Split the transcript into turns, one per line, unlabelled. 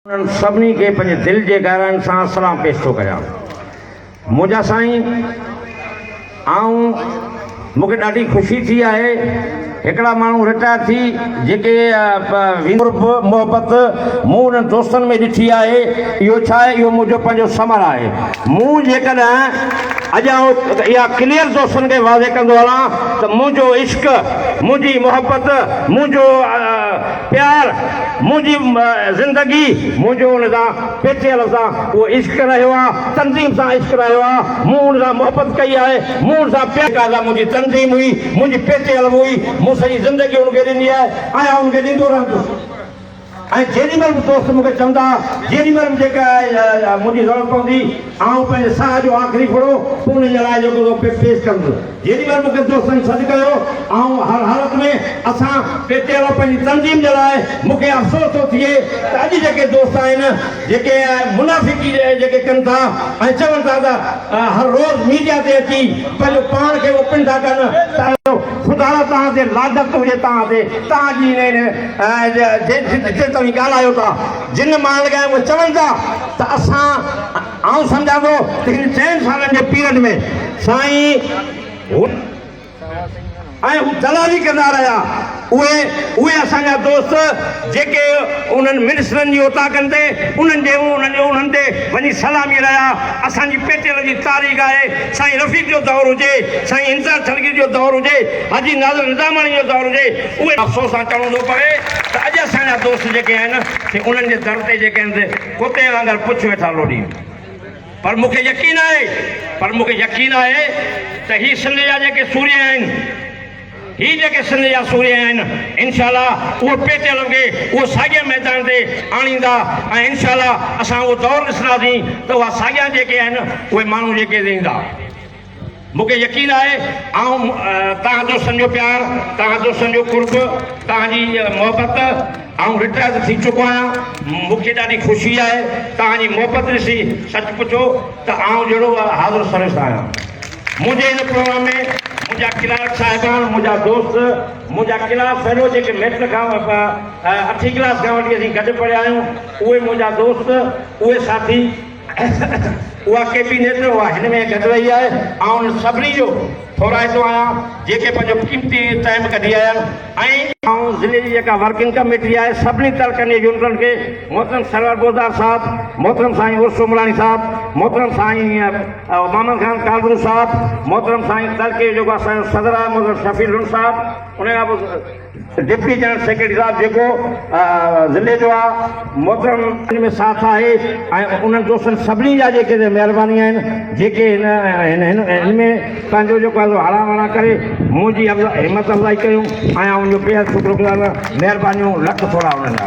انهن سڀني کي پنهنجي دل جي گهرائين سان سلام پيش ٿو ڪريان. منهنجا سائين آئون مون کي ڏاڍي خوشي ٿي آهي هڪڙا ماڻهو رٽائر ٿي جيڪي ويندي قرب محبت مون انهن دوستن ۾ ڏٺي آهي اهو ڇا آهي اهو منهنجو پنهنجو ثمر آهي مون جيڪڏهن اڄ آئون اها ڪليئر دوستن کي واضح ڪندو هلان ته منهنجو عشق منهنجي محبت منهنجو پيار منهنجي زندگي منهنجو ان سان پيچي لفظ آ اهو عشق رهيو آ تنظيم سان عشق رهيو آ مون ان سان محبت ڪئي آهي مون ان سان پيار جيڪا سا منهنجي تنظيم هئي منهنجي پيچي الف هئي مون سڄي زندگي ان کي ڏني آهي ۽ آئون ان کي ڏيندو رهندس ۽ جيڏي مهل به دوست مون کي چوندا جيڏي مهل به جيڪا منهنجي ضرورت پوندي آئون پنهنجي ساهه جو آخري ڦڙو به انهن جي لاء جيڪو سو پيش ڪندس. جيڏي مھل مونکي دوستن سڏ ڪيو، آئون ھر حالت ۾ اسان پي ٽي آء پنھنجي تنظيم جي لاء مونکي افسوس ٿو ٿئي ته اڄ جيڪي دوست آھن جيڪي منافقي جيڪي ڪن ٿا ۽ چون ٿا ته ھر روز ميڊيا تي اچي پنھنجو پاڻ کي اوپن ٿا ڪن ته خدا لا توھان تي لعنت ھجي توھان تي توھان جي ھن جتي توھين ڳالھايو ٿا جن ماڻھن کي اھي چون ٿا ته اسان آئون سمجهان ٿو ته هن چئن سالن جي پيريڊ ۾ سائين هن ۽ هو دلالي ڪندا رهيا. اهي اهي اسان جا دوست جيڪي انهن منسٽرن جي اوطاقن تي انهن جي انهن جي انهن تي وڃي سلامي رهيا. اسان جي پيٽيل جي تاريخ آهي سائين رفيق جو دور هجي، سائين انتظار ڇڙگير جو دور هجي، حاجي ناظر نظاماڻي جو دور هجي، اهي افسوس سان چوڻو ٿو پوي ته اڄ اسان جا دوست جيڪي آهن سي انهن جي در تي جيڪي آهن سي ڪتي وانگر پڇ ويٺا لوڏين پر مون کي يقين آهي پر مون کي يقين آهي ته هي سنڌ جا جيڪي سورهيه آهن هي جيڪي سنڌ جا سورهيه آهن انشاءالله اهو پيٽيل کي اهو ساڳئي ميدان تي آڻيندا ۽ انشاءالله اسان اهو دور ڏسنداسين ته اها ساڳيا جيڪي آهن اهي ماڻهو جيڪي رهندا مون کي يقين آهي آئون توهان دوستن جو پيار، توهان دوستن جو قرب، توهان جي محبت آئون رٽائرڊ ٿي چڪو آهيان. مون کي ڏاڍي خوشي آهي توهان جي محبت ڏسي سچ پچو ته آئون جهڙو به حاضر سروس آهيان. منهنجي هن پروگرام ۾ منهنجا ڪلارڪ صاحبان، منهنجا دوست، منهنجا ڪلاس فيلو جيڪي ميٽرڪ کان اٺين ڪلاس کان وٺي اسين گڏ پڙهيا آهيون اهي منهنجا دوست، اهي ساٿي ايس ايس اها ڪي پي نيٽ اها هن ۾ گڏ رهي آهي آئون انهن سڀني جو ٿورائتو آهيان جيڪي پنهنجو قيمتي ٽائيم ڪڍي آيا آهن ۽ آئون ضلعي جي جيڪا ورڪنگ ڪميٽي آهي سڀني تعلقن جي يونٽن کي محترم سرور بوزدار صاحب محترم سائين عرس سومراڻي صاحب محترم سائين محمد خان ڪالرو صاحب محترم سائين تعلقي جو جيڪو اسان جو صدر آهي محترم شفيع لنڊ صاحب ان کان پوء ڊپٽي جنرل سيڪريٽري صاحب جيڪو ضلعي جو آ محترم ان ۾ ساٿ آهي ۽ انهن دوستن سڀني جا جيڪي مهرباني آهن جيڪي هن ان ۾ پنهنجو جيڪو آهي سو هڙان وڙان ڪري منهنجي همت افزائي ڪيون آهيان ان جو بيحد شڪر گذار آهيان مهربانيون لک ٿورا انهن جا